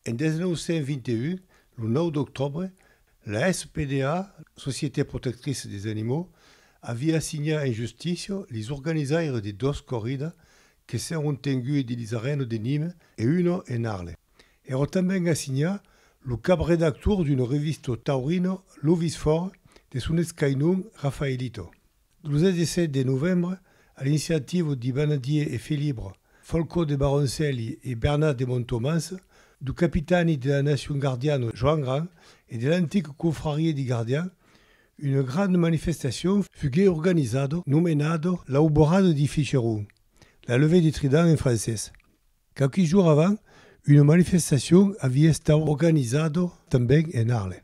En 1921, lo 9 d'octòbre, la SPDA, Société Protectrice des Animaux, aviá assignat en justícia lis organizaires de dos corridas que s'èron tengues dins arena de Nîmes e una en Arles. Èra tanben assignat lo cap-redactor d'una revista taurina Lovis Fòrt de son escainon Rafaelito. Lo 17 de novembre, a l'iniciativa de Banadier e Felibre, Folcó de Baroncelli e Bernat de Montomans, du capitani de la nacion gardiana Joan Gran e de l'antica confraria de gardians, una granda manifestacion fugué organizada nomenada l'Auborada de Ficheron, la levée de trident en francés. Quauqui jours avant, una manifestacion aviá estat organizada tanben en Arles.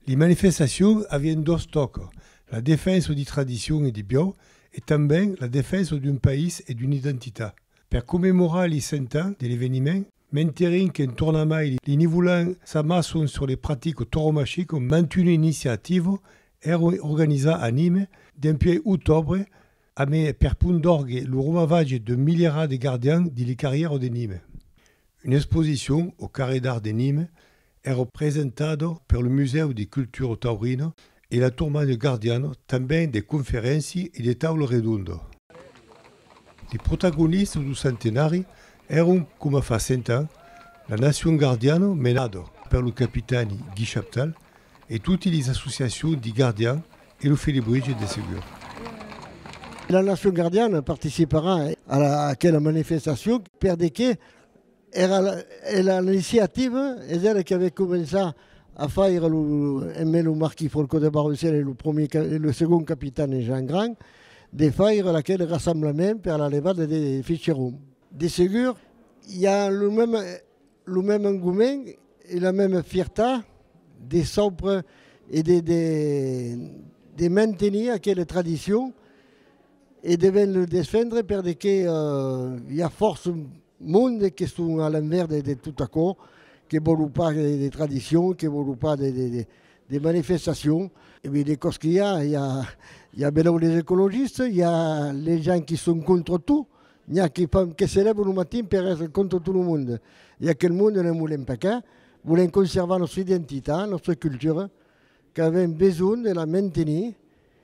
Li manifestacion avián dos tòca, la defensa di tradicion e di biò e tanben la defensa d'un país e d'una identitat. Per commemorar li 100 ans de l'eveniment, menterin qu'en tornamai li Nivolan s'amasson sur le pratico toromachico mantuna iniciativa èra organizar a Nîmes dempuèi otòbre amé per pont d'òrgue lo romavatge d'un milierà de gardians di li carrièra de Nîmes. Una exposicion au Carré d'Art de Nîmes Èra presentada per lo Musèu de Cultura Taurina e la Turmanya Gardiana tanben de conferéncia e de taula redonda. De protagonistas do centenari èron coma fa cent ans la Nacion Gardiana menada per lo capitani Guy Chaptal e totes les associacions de gardians e lo Felibritge de segur. La Nacion Gardiana participarà a aquela manifestacion per de qué Era era l'iniciativa es era que avè començar a faire lo eme lo marquis Folco de Barruciel e lo premier ca e lo segon capitane Jean Grand de faire aquel rassemblament per la levada de Ficheron. De segur i a lo meme lo meme engoment e la meme fierta de saupre e de de de mantenir aquela tradicion. E devèn lo desfendre per de que i a fòrça monde que son a l'envèrs de, de tot aquò, que vòlu pas de, de tradicion, que vòlu pas de, de, de, de manifestacion. E ben de còs que i a, i a, i a benlèu les ecologistes, i a les gens qui son contra tot, n'i a que fan, que se lèvan lo matin per èstre contra tot lo monde. E aquel monde ne'n volèm pas qu'un, volèm conservar nòstra identitat, nòstra cultura, qu'avèm besonh de la mantenir,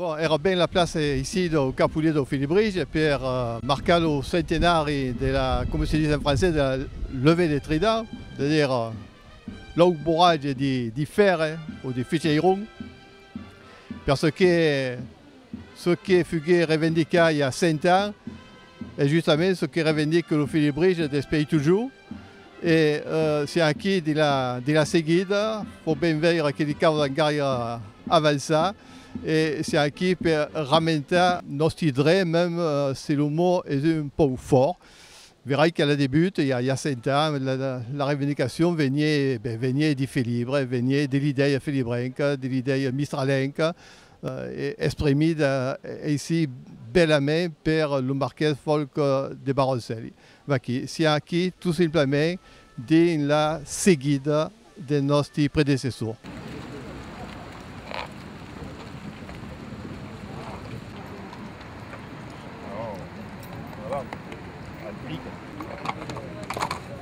Bon, èra ben la plaça aicí dau Capulet dau Felibrige per marcar lo centenari de la, coma se ditz en francés, de la levée de Trident, es a dire l'auboratge de Fèrre o de Ficheiron, perçò que Ce que fugué revendicai a Cent ans es justament ce que revendique lo Filibrige despei totjor, e se aquí de la seguida pòt ben veire que li caudan gaire avançar, e se aquí per ramentar nòsti dre, mèm se lo mot es un pauc fòrt, verai qu'a la debut, i a Cent ans, la revendicacion venié de Filibre, venié de l'idèia filibrenca, de l'idèia mistralenca, e espremit aicí bèlament per lo marqués Folc de Baroncelli. Vaquí, siá aquí tot simplament dins la seguida del nòsti predecessor.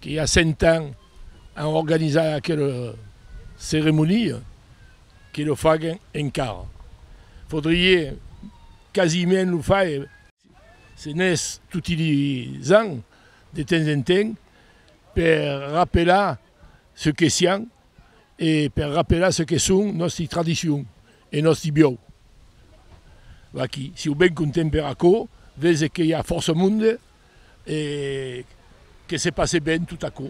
que i a 100 ans an organizat aquela ceremonia, que lo fagen encara. Faudrié quasiment lo faire, se n'es toti les ans, de temps en temps, per rapelar ce que sián e per rapelar ce que son nòsti tradicions e nòsti biòu. Vaquí, si o ben contem per aquò, vese que i a fòrça monde E que se passe ben tot aquò.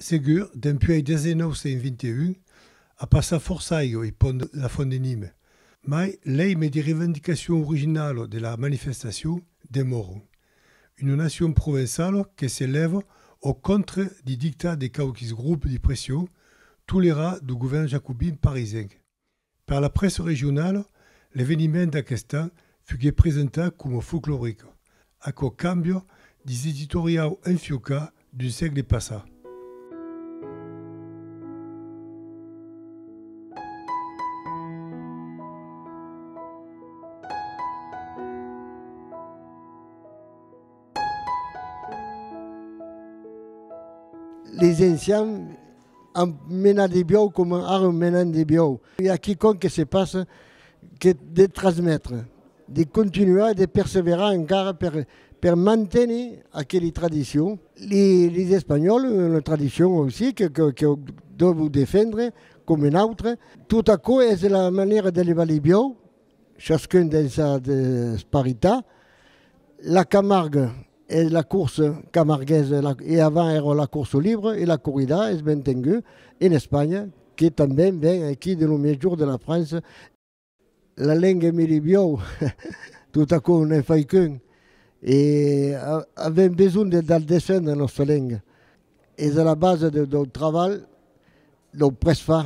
Segur, dempuèi 1921, a passat fòrça aigo e pònt la Font de Nime, mai lei medi revendicacion originalo de la manifestacion demòron, una nacion provençalo que se lèvo au contre di dictat de quauquis groupes di pression tolerat du govèrn jacobin parisenc. Per la prèssa regionala, l'eveniment d'aqueste an fuguèt presentat coma folcloric, aquò càmbia dins l'editoriau enfiucat d'un sègle passat. Les encians Un menat de biòu coma ara un menant de biòu. I a quicòm que se passa que de transmetre, de continuar e de perseverar encara per, per manténer aqueli tradicion. Li, lis espanhòls, una tradicion aussi que, que, que dòvo defendre coma un autre. Tot aquò es la manèra de levar li biòu. Chascun dels a de sparitar. La Camargue e la course camarguesa e avant èra la course libre e la corrida es ben tengut en Espanha que tanben ven aquí de lo miègjorn de la França. La lenga me li biòu tota cò n'en fai qu'un e avèm besonh de dar descendre nòsta lenga. Es a la basa dau travalh dau presfar.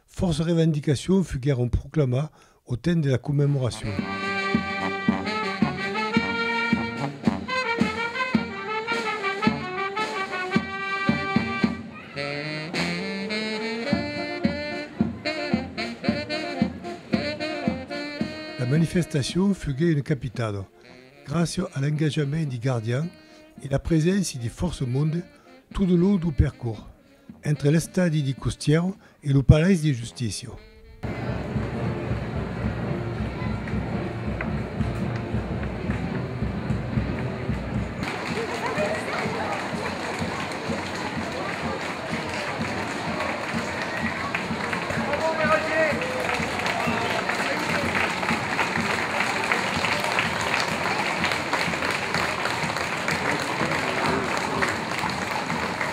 Fòrça revendicacions foguèron proclamar au temps de la commemoracion. La manifestacion foguèt una capitada gràcia a l'engajament de Gardian e la preséncia de fòrça monde tot lo long du percors. Entre l'estadi di Custièro e lo palais de Justicia.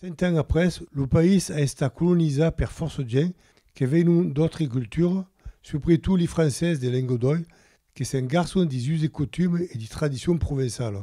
Cent ans après, lo país a estat colonizat per fòrça gents que venon d'autres cultures, subretot li Francés de Lengodòi que s'engarçon dis uses e cotumes e dis tradicions provençalas.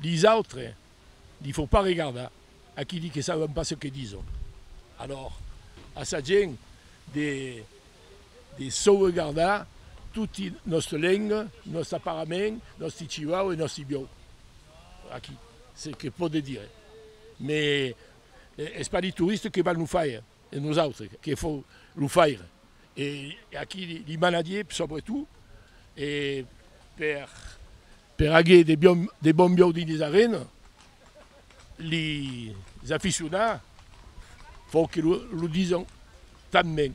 Dis autres, li faut pas regardar a qui dit que saben pas ce que dison. Alors, a sa gent de de sauvegardar toti nòste lenga, nòsta parament, nòsti civau e nòsti biòu. A qui? Se que pòde dire. Mes es pas li touriste que val lo faire. E nosautre que fò lo faire e a qui li manadié sobretot e per per aguer de bion de bon biau dins les arena li aficionar fò que lo lo dison tanben.